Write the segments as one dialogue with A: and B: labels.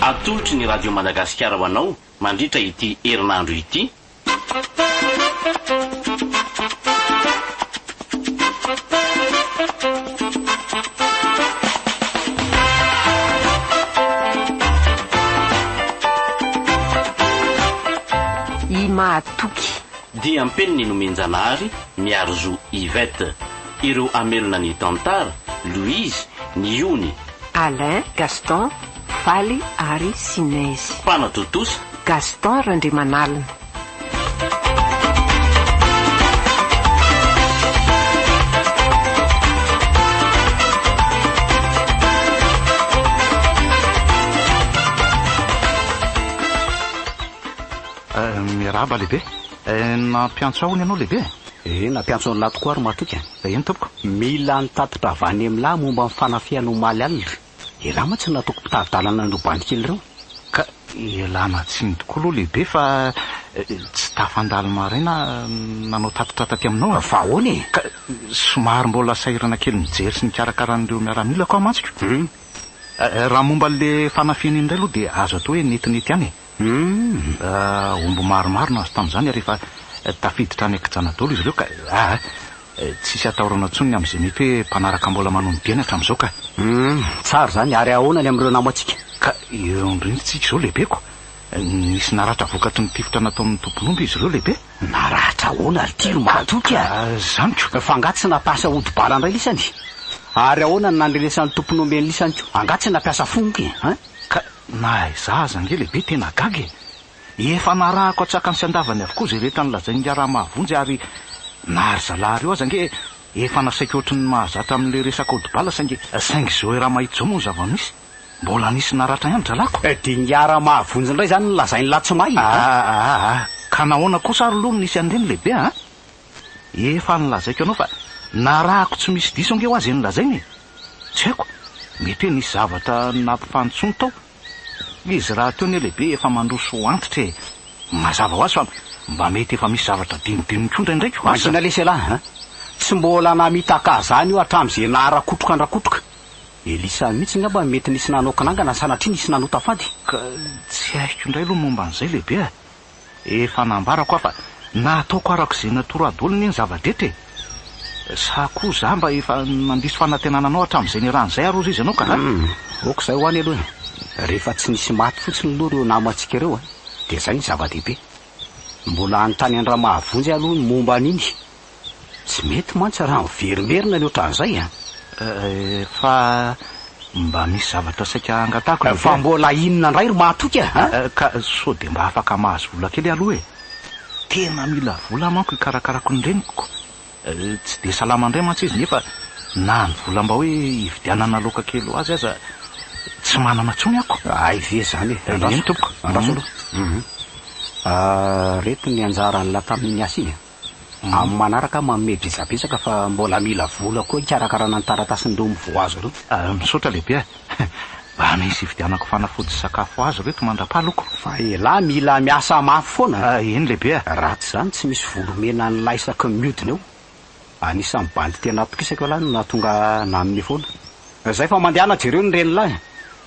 A: Atolotry ny Radio Madagasikara ho anao mandritra ity herinandro ity.
B: I mahatoky. Diam-peniny
A: nomen-janahary Miarizoa Yvette. Ireo hamelona ny tantara, Louise, ny ony, Alain,
B: Gaston, Faly ary Sinezy. Mpanatontosa.
A: Gaston
B: Randriamanalina.
C: Miarahaba lehibe. Nampiantso ahy hono ianao lehibe e. Ee, nampiantso an'lah
D: tokoa ry matoky a! Eny tompoko,
C: mila ny tatitra
D: avy any amin'lah momba ny fanafihana omaly alina. Elah mantsy no nataoko mpitari-dalana an'ireo bandy kely ireo, ka.
C: Elah natsiny tokoa aloha lehibe fa tsy tafandalo maraina aho nanao tatitra taty aminao a! Fa ahoana e? Ka
D: somary
C: mbola sahirana kely mijery sy mikarakara an'ireo miaramilako aho mantsiko. Hum. Raha momba an'ilay fanafihana iny indray aloha dia azo atao hoe netinety ihany e! Humm, omby maromaro nahazo tamin'izany ary efa tafiditra any an-kijana daholo izy ireo ka! Aa! Tsisy atahorana intsony ny amin'izay mety hoe mpanaraka mbola manolo-diana hatramin'izao ka! Humm, tsara izany,
D: ary ahoana ny amin'ireo namantsika? Ka eo
C: am-brintsika izao lehibeko! Nisy naratra vokatry ny tifitra nataon'ny tompon'omby izy ireo lehibe. Naratra ahoana
D: ry ty ry mahatoky a! Izany ko! Fa angaha tsy
C: nampiasa ody
D: bala indray lisany? Ary ahoana ny nandrenesan'ny tompon'omby an'lisany ko? Angaha tsy nampiasa fongoka e! An? Ka
C: Na izaho aza ange lehibe tena gaga e! Efa narahako an-tsakany sy an-davany avokoa izay rehetra nolazain'ny raharaha mahavonjy ary na ry zalahy ireo aza ange efa nasaiko ohatry ny mahazatra amin'ilay resaka aodi-bala saingy Saingy izao Iramahito izao moa ny zava-misy? Mbola nisy naratra ihany ry zahalahiko? Dia ny raharaha
D: mahavonjy indray izany no lazain'i Latsimahy a! Ahahahahah!
C: Ka nahoana kosa ary aloha no nisy an'ireny lehibe a! Efa nolazaiko anao fa narahako tsy misy diso ange hoa zay nolazaina e! Tsy haiko, mety hoe nisy zavatra nampifantsony tao. Izy rahateo anie lehibe efa mandroso antitra e! Mazava ho azy fa mba mety efa misy zavatra adinodinony koa ndraindraiky hoa sa? Mangina lesy elah a!
D: Tsy mbola namitaka zany io hatramzay naharakotroka andrakotroka. Elisa mitsy ngamba no mety nisy nanao kinangana sanatria nisy nanota fady. Ka tsy
C: haiko indray aloha momba an'izay lehibe a! Efa nambarako aho fa nataoko araka izay natoro ady olona iny zava-drehetra e! Sa koa za mba efa nandiso fanantenana anao hatramin'izay niarahan'izay ary hozy izy anao ka ra? Ok izay ho
D: any aloha e! Rehefa tsy nisy maty fotsiny aloha ireo namantsika ireo dia izay no zava-dehibe. Mbola hanontany an'i Ramahavonjy aho aloha ny momba an'iny Tsy mety mantsy raha miverimberina any ohatran'izay an! Fa
C: mba misy zavatra saika hangatahako indray. Fa mbola inona
D: indray ry mahatoky a! Ka sao
C: dia mba afaka mahazo vola kely aloha e! Tena mila vola manko hikarakarako ny reniko. Tsy dia salama indray mantsy izy nefa na ny vola mba hoe hividianana laoka kely ho azy aza tsy manana intsony ako. Hay ve izany e!
D: Andraso aloha. Andraso aloha. Reto ny anjaran'la tamin'iny asa iny a! amin'ny manaraka aho manome betsabetsaka fa mbola mila vola koa hikarakarana ny taratasin'ireo mivoha azy ireo. Misaotra lehibe a!
C: Mba misy hividianako fanafody sy sakafo ho azy ireo eto mandra-paloko. Fa elah mila
D: miasa mafy foana a! Eny lehibe a! Raha
C: tsy izany tsy misy
D: vola omena an'ilay isaky ny miodina eo. Anisan'ny bandy tena atokisako elah no nahatonga ahy nanome foana. Izay fa mandehana jereo ny renilahy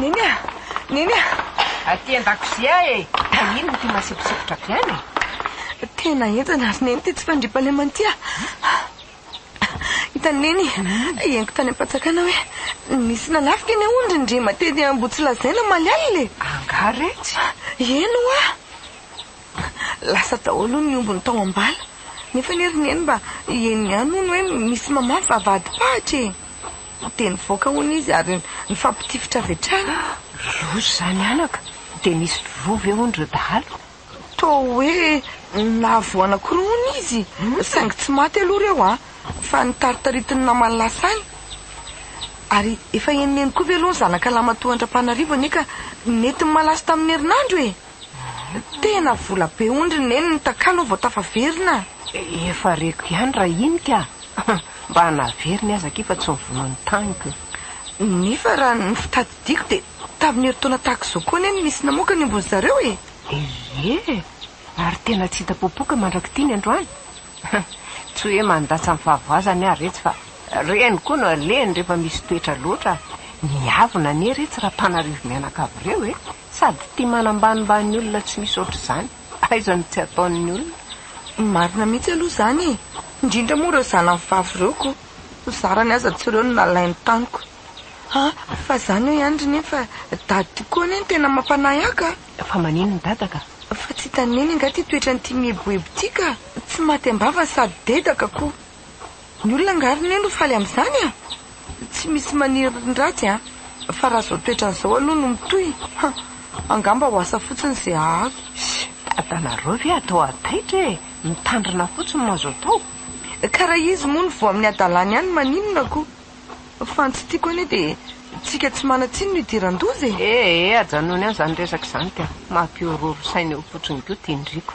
B: Neny a! Neny a! Aty an-dakozia e! Fa inona ity masibosikotra avy any e? Tena
E: henjana ry Neny ity tsy fandriampahalemana ity a! Hitan'i Neny, henoko tany am-panjakana hoe nisy nanafika ny aondry ny rima teny Ambohitsilazaina omaly alina e! Angaha retsy?
B: Eny hoa!
E: Lasa daholo hono ny ombiny tao am-bala. Nefa anie ry Neny mba heno ihany hono hoe misy mamafy vavahadi-pahitra e! Dia nivoaka hono izy ary nifampitifitra avy hatrany. Loza izany
B: anaka! Dia nisy voa ve hono ireo dahalo? Toa hoe
E: nahavoa anankiroa hono izy, saingy tsy maty aloha ireo a! Fa nitaritaritin'ny namany lasa any. Ary efa henoneno koa ve aloha ny zanakalahy matoa an-dRapanarivo anie ka nety ny malaso tamin'ny herinandro e! Tena vola be ondry neny ny takalo vao tafaverina. Efa reko
B: ihany rahinika a! Mba naveriny aza akia fa tsy mivono ny taniko. Nefa
E: raha ny fitadidiako dia tamin'ny herintaona tahaka izao koa anie no nisy namoaka ny ombin'ny zareo e! Ie!
B: Ary tena tsy hita popoka mandrak'ity ny androany. Tsy hoe mandatsa ny fahavoazany aho retsy fa reny koa no alehany rehefa misy toetra loatra. Miavona anie retsy raha mpanarivo mianakavy ireo e! Sady tia manambanimbany olona tsy misy ohatr'izany. Aiza no tsy ataon'ny olona. Marina mihitsy
E: aloha izany e! Indrindra moa ireo zanany vavy ireo ko ny zarany aza tsy ireo no nalainy tamiko. Ha, fa izany hoy Andry nefa dady tokoa anie no tena mampanahy ahy ka! Fa maninona dada
B: ka? Fa tsy hitan'i Neny
E: angaha ity toetran'ity mieboebo ity ka! Tsy maty am-bavany sady dedaka ko! Ny olona angaha ry neny ho faly amin'izany a! Tsy misy maniry ny ratsy a! Fa raha izao toetrany izao aloha no mitohy, ha! angamba ho asa fotsiny izay hahavy. Dadanareo
B: ve atao hataitra e! Mitandrina fotsiny no azo atao. Ka raha izy
E: moa no voa amin'ny hadalany ihany maninona ko! Fa ny tsy tiako anie dia tsika tsy manan-tsiny no idiran-doza e! Ee, ajanony any izany resaka
B: izany ka! Mampihorohoro saina eo fotsiny ko, tindriko.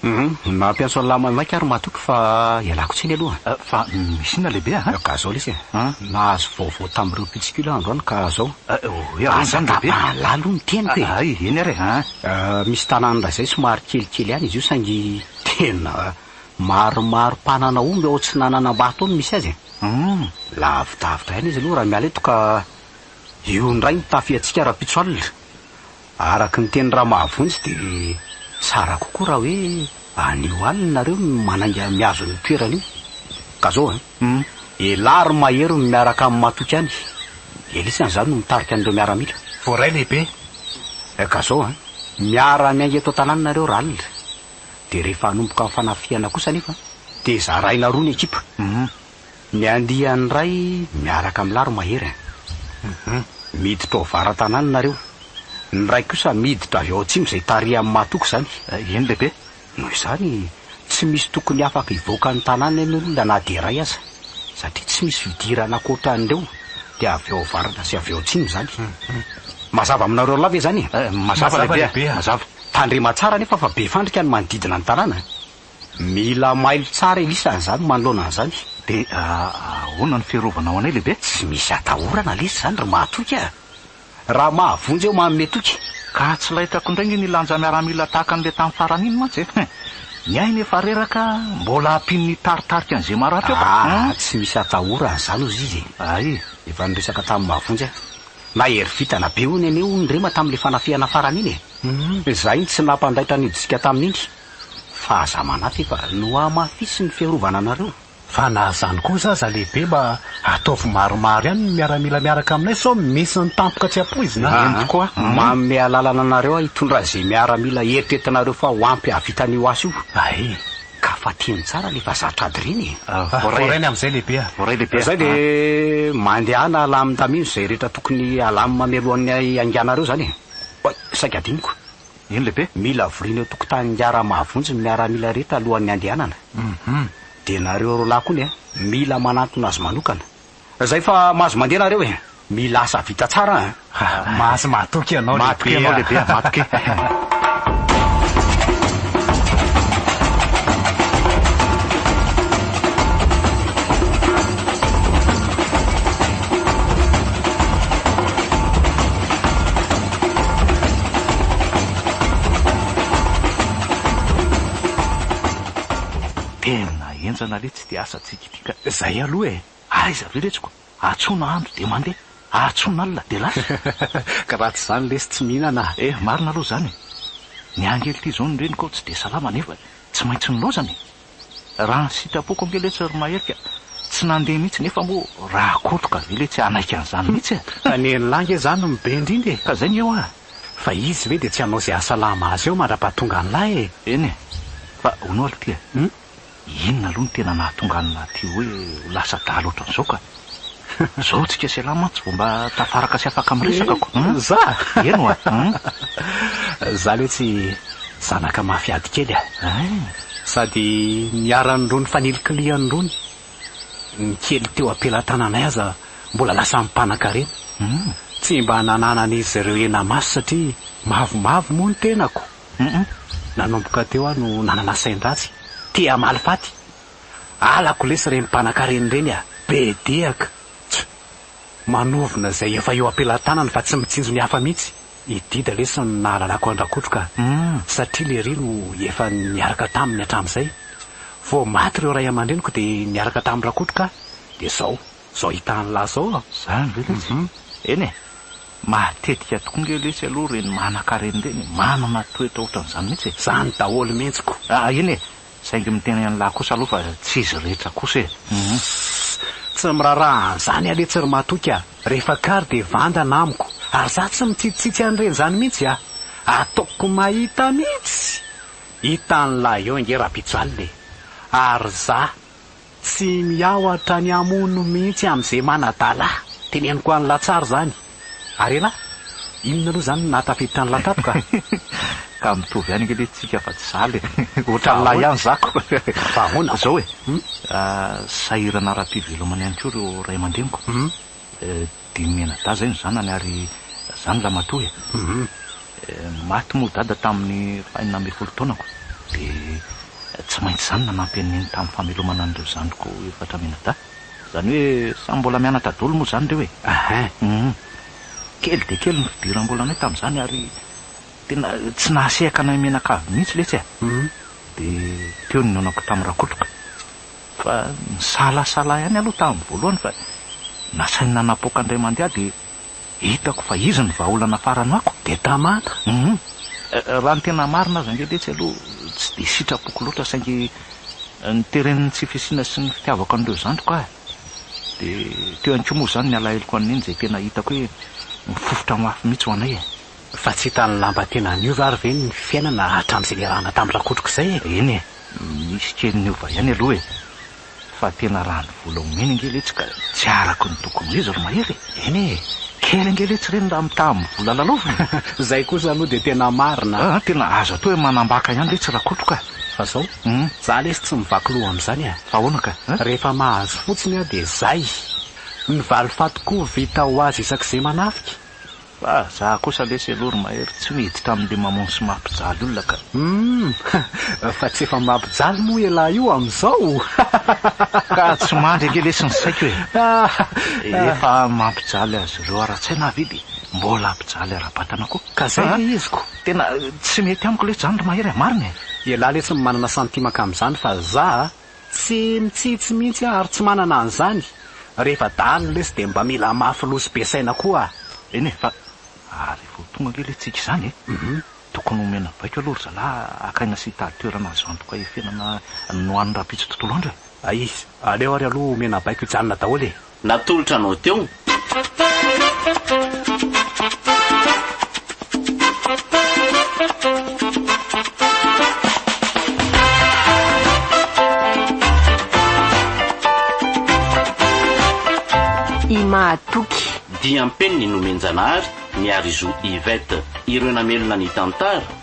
D: Humm mampiantso an'lah maimaika ary matoky fa ialako tsiny aloha a! Fa misy inona
C: lehibe a? Ka zao lesy a!
D: Nahazo vaovao tamin'ireo mpitsikilo aho androany ka zao. Hoe ahoana izany
C: lehibe? Aza angamba lalao ny teniko
D: e! Hay, eny ary e!
C: Misy
D: tanànan'drazay somary kelikely ihany izy io saingy tena maromaro mpanana omby ao Atsinananambato ao no misy azy e! Humm! Lavidavitra ihany izy aloha raha miala eto ka io indray no tafiantsika rahampitso alina! Araka ny teny Ramahavonjy dia tsara kokoa raha hoe anio alina nareo no manainga mihazo an'io toerana io. Ka zao an! Elah ry Mahery no miaraka amin'i Matoky any. Elisa an zany no mitarika an'ireo miaramila. Voaray lehibe.
C: Ka
D: zao an! Miara miainga eto an-tanàna nareo raha alina. Dia rehefa hanomboka ny fanafihana kosa anefa dia zaraina roa ny ekipa. Ny andiany ray miaraka am laro mahery an! Hum miditra ao vara tanàna nareo, ny ray kosa miditra avy ao atsimo zay tarihan matoky zany. Eny lehibe,
C: noho izany
D: tsy misy tokony afaka hivoaka ny tanàna eny olona na dia iray aza, satria tsy misy fidirana ankoatran'ireo dia avy ao avaratra sy avy ao atsimo zany. Mazava aminareo roalahy ve zany e? Mazava lehibe a!
C: Mazava. Tandrema tsara anefa
D: fa be fandrika ny manodidina ny tanàna an! Mila mailo tsara Elisa an'izany manoloana an'izany. Dia
C: ahoana ny fiarovanao anay lehibe? Tsy misy atahorana
D: lesy izany ry mahatoky a! Raha mahavonjy aho manome toky. Ka tsy laitako
C: indray nge ny lanja miaramila tahaka an'ilay tamin'ny farany iny mantsy e! Ny ahy nefa reraka, mbola ampian'ny hitaritarika an'izay maratra eo ka! Ah! Tsy misy atahorana
D: izany hozy izy e! Ay! Efa
C: niresaka tamin'i
D: mahavonjy aho. Nahery vintana be hono ianey hono ry Rema tamin'ilay fanafihana farany iny e! Izahay no tsy nampandaitra nidisika tamin'iny. fa aza manahy fa no hamafisy ny fiarovana anareo. Fa na zany
F: koa za za lehibe mba ataovy maromaro ihany ny miaramila miaraka aminay sao misy ny tampoka tsy ampoizina a. Entiko a. Manome
D: alalana anareo aho hitondra ze miaramila eritreretinareo fa ho ampy hahavita an'io asa io. Ae. Ka fatihiny tsara le vazaha tradirina e. Voarainy amizay
F: lehibe a. Voaray lehibe a. Zay de
D: mandehana alamin-damino ze rehetra tokony alamin-mamelohan'ny hainganareo zany e. Oay, saika adinoko. Eny lehibe.
C: Mila avoriana eo tokotanin'ny
D: Miara mahavonjy ny miaramila rehetra alohan'ny handehanana. Hum. Dia nareo roa lahy koa ny an. Mila manantona azy manokana. Zay fa mahazo mandeha nareo e. Mila asa vita tsara an. Mahazo
F: mahatoky ianao lehibe a. Mahatoky ianao lehibe a, mahatoky.
C: Tena enjana le tsy de asa tsikitika zay aloha e!
F: Aiza ve retsiko?
C: Atsona andro de mandeha, atsona alina de lasa. Ka raha tsy
F: zany lesy tsy mihinana a! Eh, marina aloha zany e!
C: Ny angely ty zao ny reniko ao tsy de salama nefa tsy maintsy nilaozana e! Raha ny sitrapoko ange letsy ry Mahery ka tsy nandeha mihitsy nefa moa Rakotoka ve letsy hanaiky an'izany mihitsy e? Fa ny enin'lah nge
F: zany no be indrindra e! Fa zay nge hoa!
C: Fa izy ve
F: dia tsy hanao izay hasalama azy eo mandrapahatonga an'lah
C: e!
F: Eny e! Fa
C: hono
F: aloha ty e!
C: Inona aloha no tena nahatonga an'lah ty hoe ho lasa adala ohatran'izao ka? Zao tsika sy ialahy mantsy vao mba tafaraka sy afaka miresaka ko hum. Za?
F: Eny oa hum. Za le tsy zanaka mafy ady kely a. Hein. Sady niharan'irony fanilikilihan'irony ny kely teo am-pelatananay aza mbola lasa mpanankarena. Hum. Tsy mba nananan'izy ireo hena masy satria mavomavo moa ny tenako. Hum. Nanomboka teo aho no nanana sain-dratsy, te hamaly faty. Halako lesy reny mpanakarena reny a! Be dehaka! Tch! Manovona izay efa eo am-pelatanany fa tsy mitsinjo ny hafa mihitsy! I Dida lesy no nahalalako an-dRakotroka humm satria lery no efa niaraka taminy hatramin'izay! Vao maty ireo ray aman-dreniko dia niaraka tamin-dRakotroka aho dia izao! Izao hita an'lah izao aho! Izany ve lesy? Humm!
C: Eny e! Matetika tokoa nge lesy aloha ireny manankarena ireny e! Manana toetra ohatran'izany mihitsy e! Izany daholo mihitsy
F: ko! Eny e!
C: Saingy miteny an'lah kosa aloha fa tsy izy rehetra kosa e! Hum.
F: Tsy miraharaha an'izany aho letsy ry matoky a! Rehefa kary dia vandana amiko, ary za tsy mitsitsitsitsy an'ireny izany mihitsy a! Ataoko mahita mihitsy! Hitan'lah eo ange Rapijalina e! Ary za. Tsy miaohatra ny hamono mihitsy amze manadala. Teneniko any latsary zany. Ary elah? Inona aloha zany no nahatafiditra ny lakapoka? Ka
C: mitovy ihany ange le tsika fa tsy zala e! Ohatran'ny lahy ihany zako. Fa ahoana? Zao
F: e!
C: Sahirana ara-pivelomana ihany koa ireo ray aman-dreniko. Dimy mianadahy izay ny zanany ary zany ramatoa e. Maty moa dada tamin'ny fahenina ambin'ny folo taonako dia tsy maintsy izany nanampy an'i neny tamin'ny famelomana an'ireo zandriko efatra mianadahy. Izany hoe samy mbola mianatra daholo moa izany ireo e. Kely dia kely ny fidiram-bolanay tamin'izany ary tena tsy nahasehaka anay mianakavy mihitsy letsy e. Dia teo ny nionako tamin'i Rakotoka. Fa nisalasala ihany aloha tamin'ny voalohany fa nasainy nanapoaka indray mandeha dia hitako fa izy no vahaolana farany amiko. Dia tamana. Hum. Raha ny tena marina aza ange letsy aloha tsy dia sitrapoko loatra saingy niteren'ny tsy fisiana sy ny fitiavako an'ireo zandriko aho. Dia teo ihany koa moa izany ny alaheloko an'i Neny izay tena hitako hoe mifofotra mafy mihitsy ho anay e. Fa tsy hitan'ny
F: lamba tena niova ary ve ny fiainana hatramin'izay niarahana tamin-dRakotroko izay e? Eny e,
C: nisy kely niova ihany aloha e. Fa tena raha ny vola omeny ange letsy ka tsy araka ny tokony ho izy ry Mahery e! Eny e,
F: kely ange letsy
C: ireny raha mitaha amin'ny vola lalaovina e! Izay kosa aloha
F: dia tena marina. Aa, tena aza atao hoe
C: manambaka ihany letsy Rakotroko a! Fa izao,
F: izaho lesy tsy mivaky loha amin'izany a! Fa ahoana ka a?
C: Rehefa mahazo
F: fotsiny aho dia izay! Ny valifaty koa vita ho azy isak'izay manafika. Fa za
C: kosa lesy aloha ry Mahery tsy miditra amin'le mamono sy mampijaly olona ka. Humm!
F: Fa tsy efa mampijaly moa ialahy io amin'izao?
C: Ka tsy mandry ange lesy ny saiko e! Efa mampijaly azy ireo ara-tsaina aho Vidy, mbola hampijaly ara-batana koa. Ka zay le izy ko!
F: Tena tsy
C: mety amiko lesy zany ry Mahery a! Marina e! Ialahy lesy no manana
F: santimaka amin'izany fa za Tsy mitsitsy mihitsy aho ary tsy manana an'izany, rehefa dahalo lesy dia mba mila mafy loha sy be saina koa aho. Eny e, fa
C: ary vao tonga ange le tsiky izany e! Tokony omena baiko aloha ry zalahy hakaina sy hitady toerana azo antoka efenana nohanin'ny rahampitso tontolo andro e! Aiza, aleo
F: ary aloha omena baiko hijanona daholo e! Natolotra anao teo.
B: I Mahatoky. Diam-peniny
A: nomen-janahary Miarizo Yvette. Ireo namelona ny tantara.